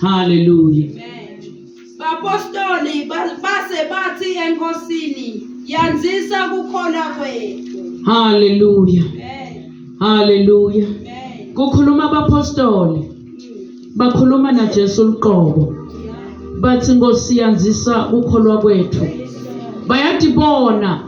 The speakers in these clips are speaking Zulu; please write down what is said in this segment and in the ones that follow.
Haleluya. Bapostoli base bathi enkosini yanzisa kukhona kwethu. Haleluya. Haleluya. Kukhuluma abapostoli. Bakhuluma naJesu uqobo. Bathi Nkosi yanzisa ukholwa kwethu. Bayadibona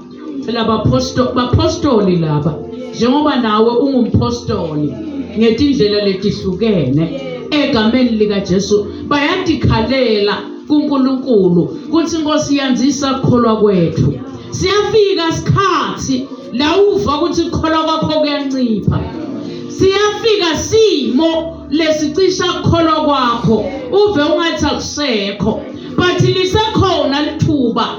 Phela baphostoli baphostoli laba njengoba nawe ungumphostoli ngetindlela letihlukene egameni lika Jesu bayadikhalela kuNkulunkulu kuthi Nkosi yanzisa ukukholwa kwethu siyafika isikhathi la uva ukuthi ukukholwa kwakho kuyancipha siyafika simo lesicisha ukukholwa kwakho uve ungathi akusekho but lisekhona lithuba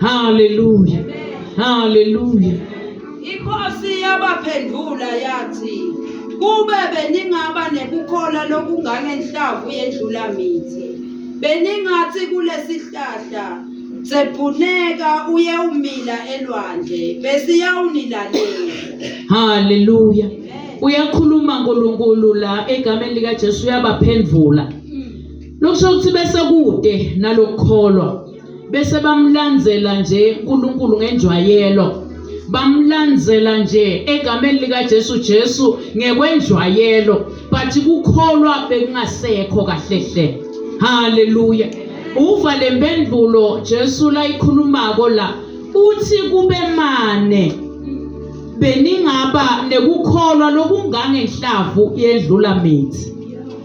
Haleluya. Haleluya. Inkosi yabaphendula yathi kube beningaba nekukhola lokungangenhlavu yendlula mithi beningathi kulesihlahla sebhuneka uye umila elwandle besiyawunilalela haleluya uyakhuluma uNkulunkulu la egameni lika Jesu uyabaphendvula mm. lokusho ukuthi bese kude nalokukholwa bese bamlandzela nje uNkulunkulu ngenjwayelo bamlandzela nje egameni likaJesu Jesu ngekwenjwayelo but kukholwa bekungasekho kahle hle haleluya uva lempendulo Jesu layikhulumako la uthi kube mane beningaba nekukholwa lokungangenhlavu yedlula mithi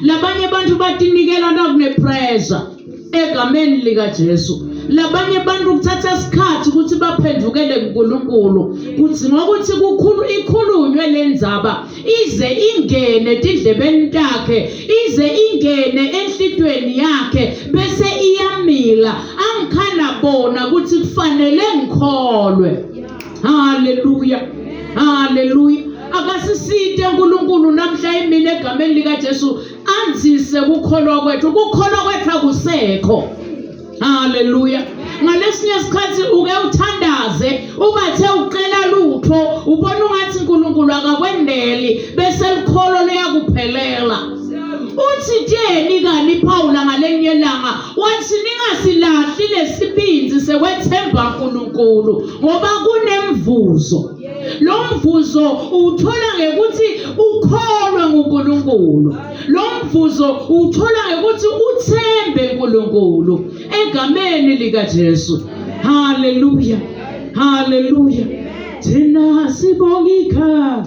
labanye abantu batinikela nakunepressure egameni likaJesu labanye abantu kuthatha isikhathi ukuthi baphendukele kuNkulunkulu kuthi ngokuthi kukhulu ikhulunywe lenzaba ize ingene tidlebeni takhe ize ingene enhlitweni yakhe bese iyamila angikhala bona ukuthi kufanele ngikholwe haleluya haleluya akasisite uNkulunkulu namhla imina egameni lika Jesu anzise ukukholwa kwethu ukukholwa kwethu akusekho haleluya ngalesinye isikhathi uke uthandaze ubathe ucela lutho ubona ungathi uNkulunkulu akakwendeli bese likholo liyakuphelela uthi tyeni kani Paul ngalenye ilanga wathi ningasilahli lesibindi sekwethemba uNkulunkulu ngoba kunemvuzo lo mvuzo uwuthola ngekuthi ukholwe nguNkulunkulu lo mvuzo uwuthola ngekuthi uthembe uNkulunkulu egameni likaJesu haleluya haleluya thina sibonga ikhaya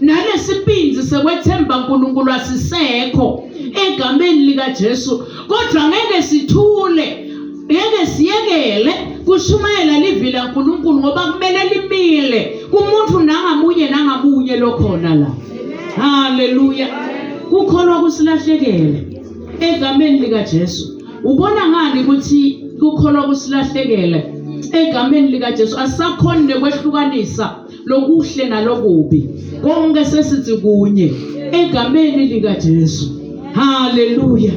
nalesibinzi sekwethemba uNkulunkulu asisekho egameni likaJesu kodwa ngeke sithule ngeke siyekele kushumayela livi laNkulunkulu ngoba kumele limile kumuntu nangamunye nangamunye lokhona la haleluya kukholwa kusilahlekele egameni likaJesu ubona ngani ukuthi kukholwa kusilahlekele egameni likaJesu asakhona nekwehlukanisa lokuhle nalokubi konke sesithi kunye egameni likaJesu haleluya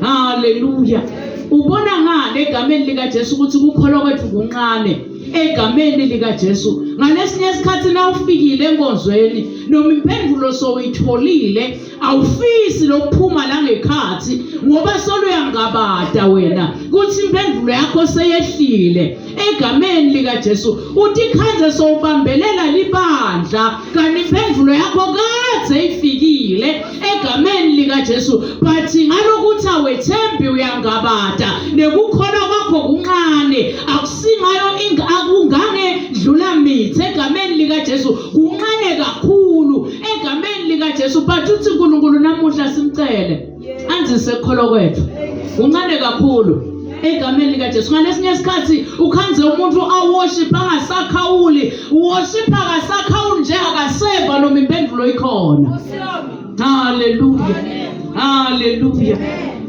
haleluya ubona ngani egameni likaJesu ukuthi ukukholwa kwethu kunqane egameni likaJesu ngalesinye isikhathi nawufikile enkonzweni noma impendulo sowuyitholile awufisi lokuphuma la ngekhathi ngoba soluyangabada wena kuthi impendulo yakho seyehlile egameni likaJesu uthi khanze sowubambelela libandla kanti impendulo yakho kade ifikile egameni likaJesu but ngalokuthi awethembi uyangabada nekukhona kwakho kuncane akusingayo akungange dlula mithi egameni likaJesu kuncane kakhulu egameni likaJesu but uthi uNkulunkulu namuhla simcele anzise ukukholo kwethu uncane kakhulu egameni likaJesu ngalesinye isikhathi ukhanze umuntu aworship angasakhawuli worship akasakhawuli nje akaseva noma impendulo ikhona haleluya haleluya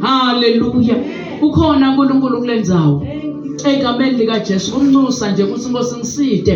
haleluya ukhona uNkulunkulu kulendzawo egameni likaJesu kumnxusa nje ukuthi inkosi ngiside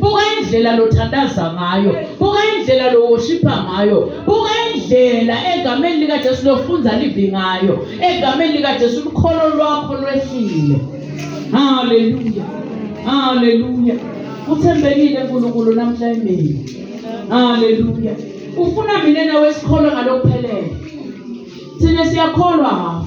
buka indlela lothandaza ngayo buka indlela lowoshipha ngayo buka indlela egameni likajesu lofunza livi ngayo egameni likajesu lukholo lwakho lwehlile haleluya haleluya uthembekile nkulunkulu namhla emini haleluya ufuna mina nawe sikholwe ngalokuphelele thina siyakholwa hafu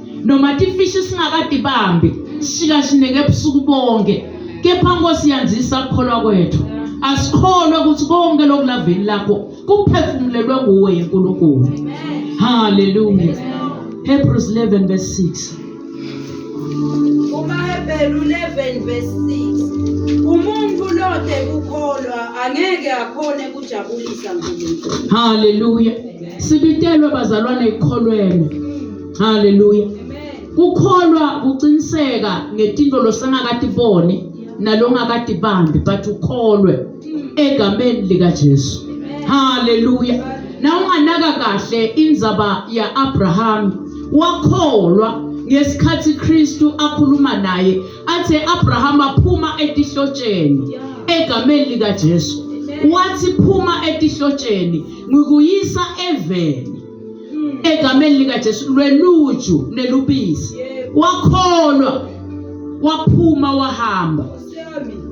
noma tifishi singakatibambi sishikashineke ebusuku bonke kepha nkosi yanzisa kukholwa kwethu asikholwe ukuthi konke lokulaveli lakho kuphefumulelwe nguwe yenkulunkulu haleluya hebrews 11 verse 6 umahebheli 11 verse 6 umuntu lode kukholwa angeke akhone kujabulisa nkulunkulu haleluya sibitelwe bazalwane ikholweni haleluya kukholwa kuciniseka ngetinto losangakatiboni nalongakatibambi but ukholwe egameni likajesu haleluya na unganaka kahle indzaba ya-abrahama wakholwa ngesikhathi kristu akhuluma naye athe abrahama phuma etihlotsheni egameni likajesu wathi phuma etihlotsheni ngikuyisa eveni egameni likaJesu lweluju nelubisi wakholwa waphuma wahamba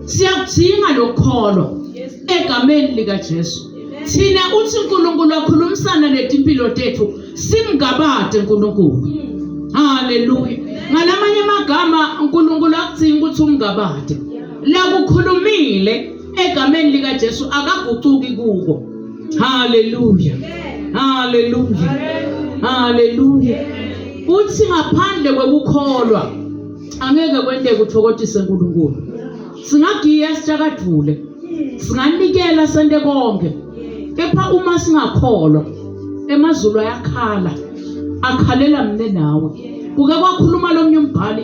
siyakudinga lokukholwa egameni likaJesu thina uthi uNkulunkulu wakhulumisana netimpilo tethu simngabade uNkulunkulu haleluya ngalamanye amagama uNkulunkulu akudinga ukuthi umngabade lakukhulumile egameni lika Jesu akagucuki kuko haleluya haleluya haleluya uthi ngaphandle kwekukholwa angeke kwenteke uthokothise uNkulunkulu singagiya sijakadvule singanikela sente konke kepha uma singakholwa emazulu ayakhala akhalela mina nawe kuke kwakhuluma lomnye umbhali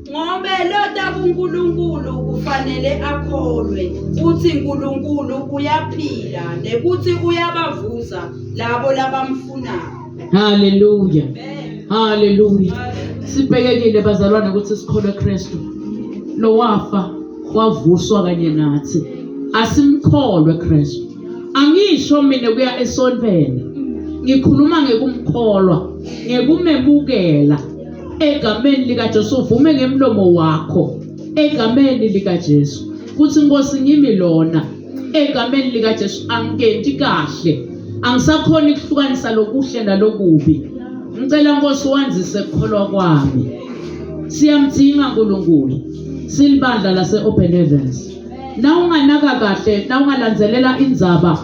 Ngobe lota kuNkulunkulu kufanele akholwe kutsi Nkulunkulu uyaphila nekutsi uyabavuza labo labamfunako. Hallelujah. Hallelujah. Sibhekekile bazalwane ukuthi sikholwe Kristu. Lo wafa wavuswa kanye nathi. Asimkholwe Kristu. Angisho mina kuya esontweni. Ngikhuluma ngekumkholwa, ngekumemukela. egameni likaJesu uvume ngemlomo wakho egameni likaJesu kuthi Nkosi ngimi lona egameni likaJesu angikenti kahle angisakhona ukuhlukanisa lokuhle nalokubi ngicela Nkosi wandise ukukholwa kwami siyamdinga uNkulunkulu silibandla lase Open Heavens na unganaka kahle na ungalandzelela indzaba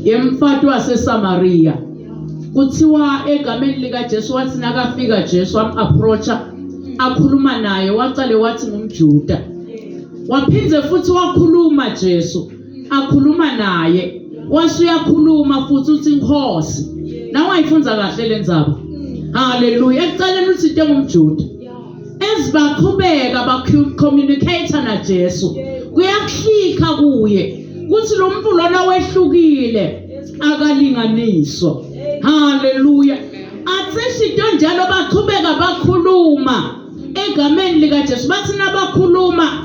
yemfati waseSamaria kuthiwa egameni likaJesu wathi nakafika Jesu am-approacha akhuluma naye waqale wathi ngumJuda waphinde futhi wakhuluma Jesu akhuluma naye wase uyakhuluma futhi uthi inkosi nawe ayifunza kahle le ndzaba haleluya ekuqaleni uthi into engumJuda as baqhubeka bacommunicate naJesu kuyakuhlika kuye kuthi lo muntu lona wehlukile akalinganiswa haleluya athishi into njalo baqhubeka bakhuluma egameni likaJesu bathi nabakhuluma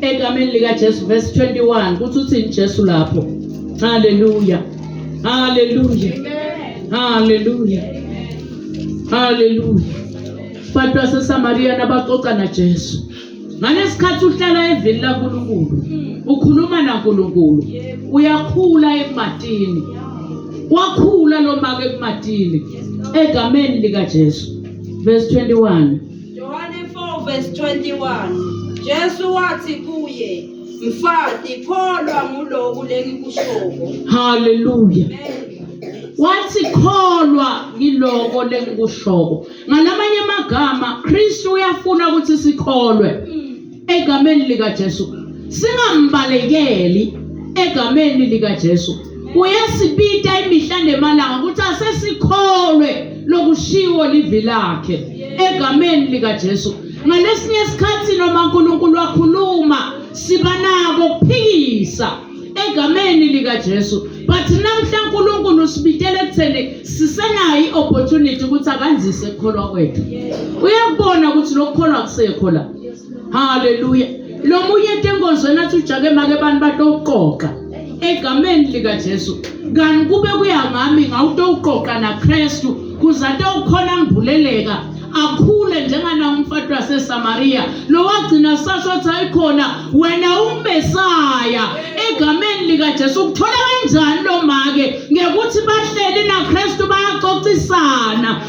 egameni likaJesu verse 21 kuthi uthini Jesu lapho haleluya haleluya haleluya haleluya abantu baseSamariya nabaxoxa naJesu ngalesikhathi uhlala evini laNkulunkulu ukhuluma naNkulunkulu uyakhula ematini wakhula lo maka ematini egameni likaJesu verse 21 Yohane 4 verse 21 Jesu wathi kuye mfati kholwa nguloku lengikushoko haleluya wathi kholwa ngiloko lengikushoko ngalamanye amagama Kristu uyafuna ukuthi sikholwe mm. egameni likaJesu singambalekeli egameni likaJesu uyasibita imihla nemalanga ukuthi asesikholwe lokushiwo livi lakhe egameni likaJesu ngalesinye isikhathi noma uNkulunkulu wakhuluma siba nako ukuphikisa egameni likaJesu but namhla uNkulunkulu usibitele ekutheni sisenayo iopportunity ukuthi akanzise ukukholwa kwethu uyakubona ukuthi lokukholwa kusekho la haleluya lo munye ethi enkonzweni athi ujake make abantu batokuqoqa egameni likajesu kanti kube kuya ngami ngawutokuqoqa nakristu kuze atawukhona ngivuleleka akhule njengana umfati waseSamaria lo wagcina sasho ukuthi ayikhona wena uMesiya egameni lika Jesu ukuthola kanjani lo make ngekuthi bahleli naKristu bayaxoxisana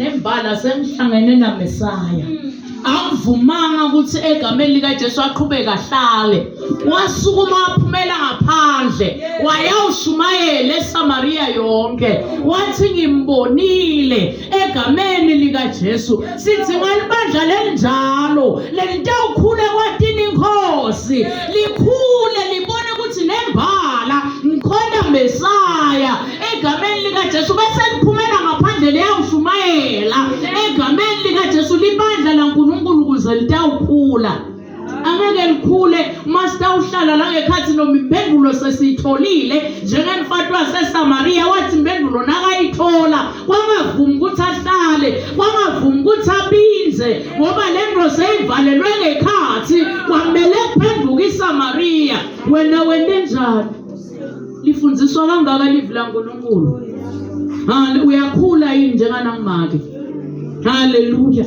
nembala sengihlangene naMesaya angivumanga ukuthi egameni likaJesu aqhubeke ahlale wasukuma waphumela ngaphandle wayawushumayela eSamaria yonke wathi ngimbonile egameni likaJesu sithi ngalibandla lelinjalo lelitawukhula kwatini inkosi likhule libone ukuthi nembala ngikhona Messiah egameni likaJesu bese liphumela ngaphandle liyawushumayela egameni likaJesu libandla laNkulunkulu kuze litawukhula angeke likhule masitawuhlala la ngekhathi noma impendulo sesiyitholile njengemfati wasesamariya wathi impendulo nakayithola kwangavumi ukuthi ahlale kwangavumi ukuthi abinze ngoba le nto seyivalelwe ngekhathi kwamele kuphenduka isamariya wena wente njani lifundiswa kangaka livi lankulunkulu uyakhula yini njenganangimake haleluya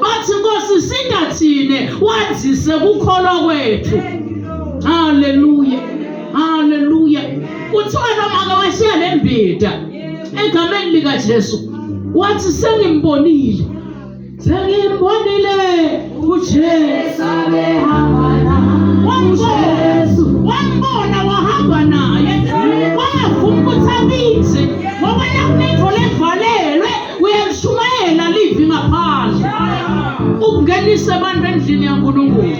bathi nkosi singathine wandise kukholwa kwethu haleluya haleluya kuthiwa nomaka washiya le mbida egameni likajesu wathi sengimbonile sengimbonile ujesu abehamba wambona wahamba naye wayavuma ukuthi abize ngoba yakuningi uyalishumayela livi ngaphandle ukungenise abantu endlini yaNkulunkulu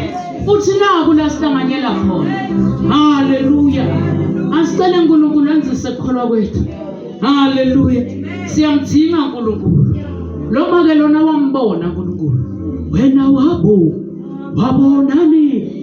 uthi naku la sihlanganyela khona haleluya asicele uNkulunkulu anzise ukukholwa kwethu haleluya siyamdinga uNkulunkulu lo make lona wambona uNkulunkulu wena wabu wabonani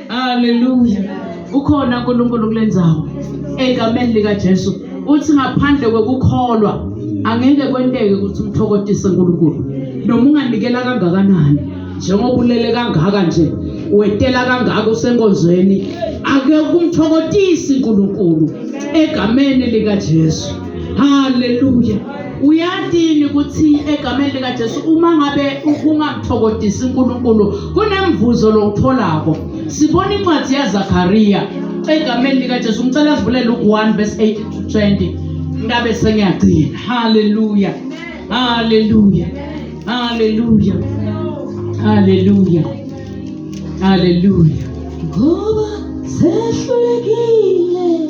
Hallelujah. Ukhona uNkulunkulu kule ndawo. Egameni lika Jesu. Uthi ngaphandle kokukholwa angeke kwenteke ukuthi umthokotise uNkulunkulu. Noma unganikela kangakanani njengoba ulele kangaka nje wetela kangaka usenkonzweni ake kumthokotisi uNkulunkulu egameni lika Jesu. Hallelujah. uyatini ukuthi egameni likaJesu uma ngabe kungamthokodisi uNkulunkulu kunemvuzo lowutholako sibona incwadi yaZakariya egameni likaJesu ngicela sivulele u1 verse 8 to 20 ngabe sengiyagcina haleluya haleluya haleluya haleluya haleluya ngoba sehlulekile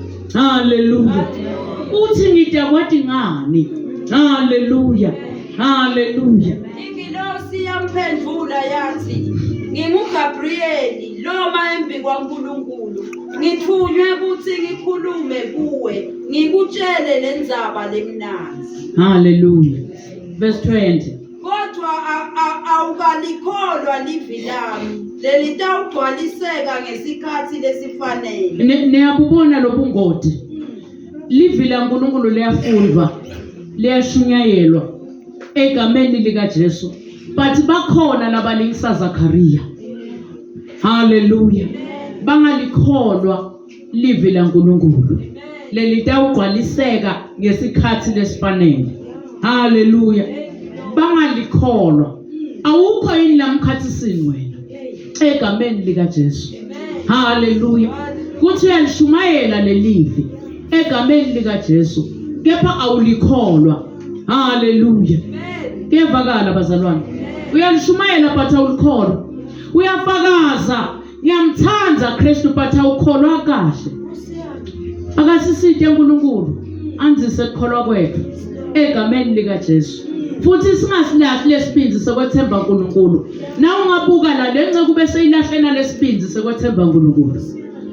Haleluya. Uthi ngidakwa dingani. Haleluya. Haleluya. Ingilosi yamphendula yathi nginguGabriyeli loma embi kwaNkulunkulu ngithunywe ukuthi ngikhulume kuwe ngikutshele lenzaba lemnandi. Haleluya. Verse 20. kodwa awukalikholwa livi lami lelitawugcwaliseka ngesikhathi lesifanele niyabubona lobungoti livi lankulunkulu liyafundwa liyashunyayelwa egameni likajesu but bakhona labalingisa zakariya haleluya bangalikholwa livi laNkulunkulu lelitawugcwaliseka ngesikhathi lesifanele haleluya bangalikholwa awukho yini lamkhathisini wena egameni likaJesu haleluya kuthi uyalishumayela lelivi egameni likaJesu kepha awulikholwa haleluya kuyevakala bazalwane uyalishumayela but awulikholwa uyafakaza ngiyamthanda Kristu but awukholwa kahle akasisite uNkulunkulu anzise ukukholwa kwethu egameni lika Jesu futhi singasilahli lesibinzi sokwethemba uNkulunkulu na ungabuka la lenceku bese ilahlena lesibinzi sokwethemba uNkulunkulu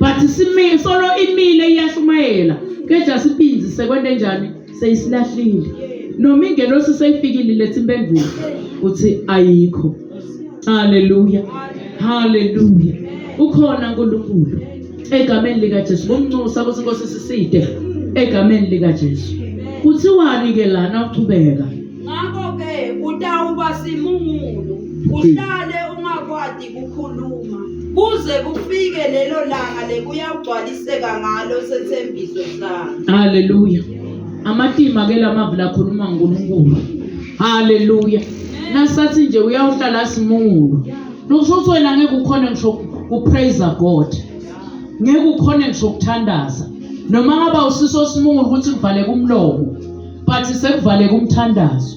but simi solo imile iyashumayela keja sibinzi sekwende njani seyisilahlile noma ingelosi seyifikile lethi impendulo uthi ayikho haleluya haleluya ukhona uNkulunkulu egameni lika Jesu bomnxusa ukuthi Nkosi siside egameni lika Jesu kuthiwani ke lana uqhubeka ngakho ke utawuba simungulu uhlale ungakwadi kukhuluma kuze kufike lelo langa lekuyagcwaliseka ngalo sethembiso sakhe haleluya amatima ke lamavi lakhuluma ngoNkulunkulu haleluya nasathi nje uyawuhlala simungulu nokusho ukuthi wena ngeke ukhone ngisho kupraise God ngeke ukhone ngisho ukuthandaza noma ngaba usiso simungulu ukuthi kuvaleke umlomo but sekuvaleke umthandazo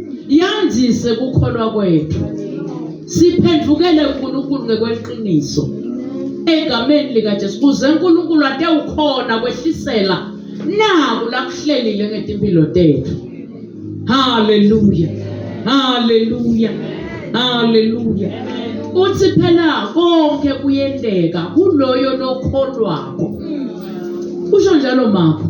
yandise kukholwa kwethu siphendukele uNkulunkulu ngekweqiniso egameni likaJesu kuze uNkulunkulu ate ukhona kwehlisela naku lakuhlelile ngetimpilo tethu haleluya haleluya haleluya uthi phela konke kuyendeka kuloyo lokholwako usho njalo mama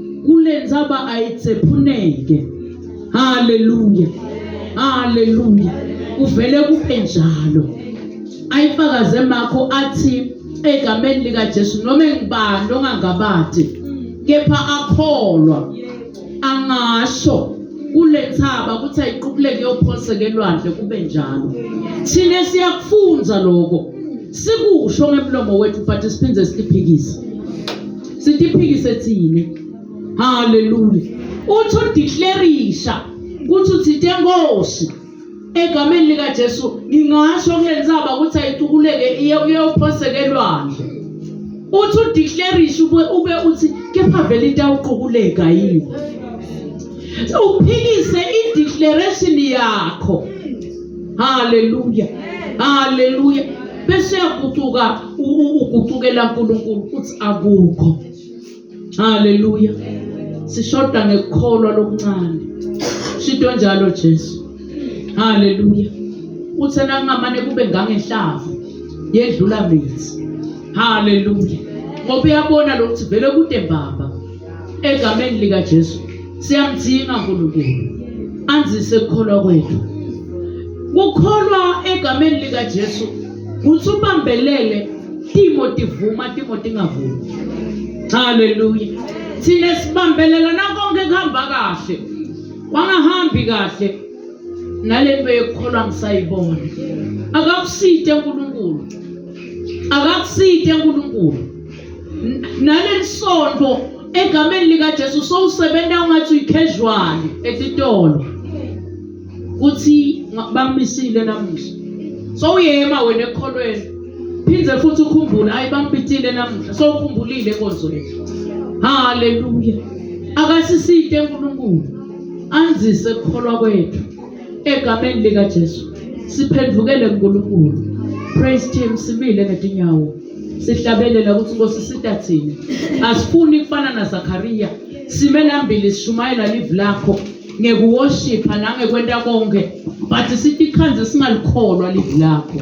kulenza ba ayitsephuneke haleluya haleluya kuvele kube njalo ayifakaze makho athi egameni lika Jesu noma engibani ongangabadi kepha akholwa angasho kulethaba ukuthi ayiqubuleke yophonseke elwandle kube njalo thina siyakufunza lokho sikusho ngemlomo wethu but siphinde siphikise sitiphikise thina haleluya uthi udeclarisha ukuthi uthinte nkosi egameni likajesu ngingasho kule nsaba ukuthi ayitukuleke iyophoseka elwandle uthi udeclarisha ube ube uthi kepha vele into awuqukuleka yini uphikise ideclaration yakho haleluya haleluya bese yaguquka ukucukela uNkulunkulu ukuthi akukho haleluya sishoda ngekukholwa lokuncane shinto njalo Jesu haleluya uthe nangamane kube ngangenhlavu yedlula mithi haleluya ngoba uyabona lokuthi vele kude mbamba egameni likaJesu siyamdinga uNkulunkulu anzise ukukholwa kwethu kukholwa egameni likaJesu kuthi ubambelele timo tivuma timo tingavumi haleluya thina sibambelela nakonke kuhamba kahle wangahambi kahle nalento yokukholwa ngisayibona akakusite uNkulunkulu akakusite uNkulunkulu naleli sonto egameni likaJesu sowusebenza ungathi uyi-casual etitolo kuthi bamisile namuhla sowuyema wena ekholweni phinde futhi ukhumbule hayi bampitile namuhla sowukhumbulile enkonzweni haleluya akasisite unkulunkulu anzise kukholwa kwethu Egameni lika Jesu siphendukele kuNkulunkulu. Praise team simile ngetinyawo. Sihlabelela ukuthi Nkosi sita thina. Asifuni kufana naZakariya. Sime lambili sishumayela live lakho ngekuwoshipha nangekwenta konke but sitikhandze singalikholwa live lakho.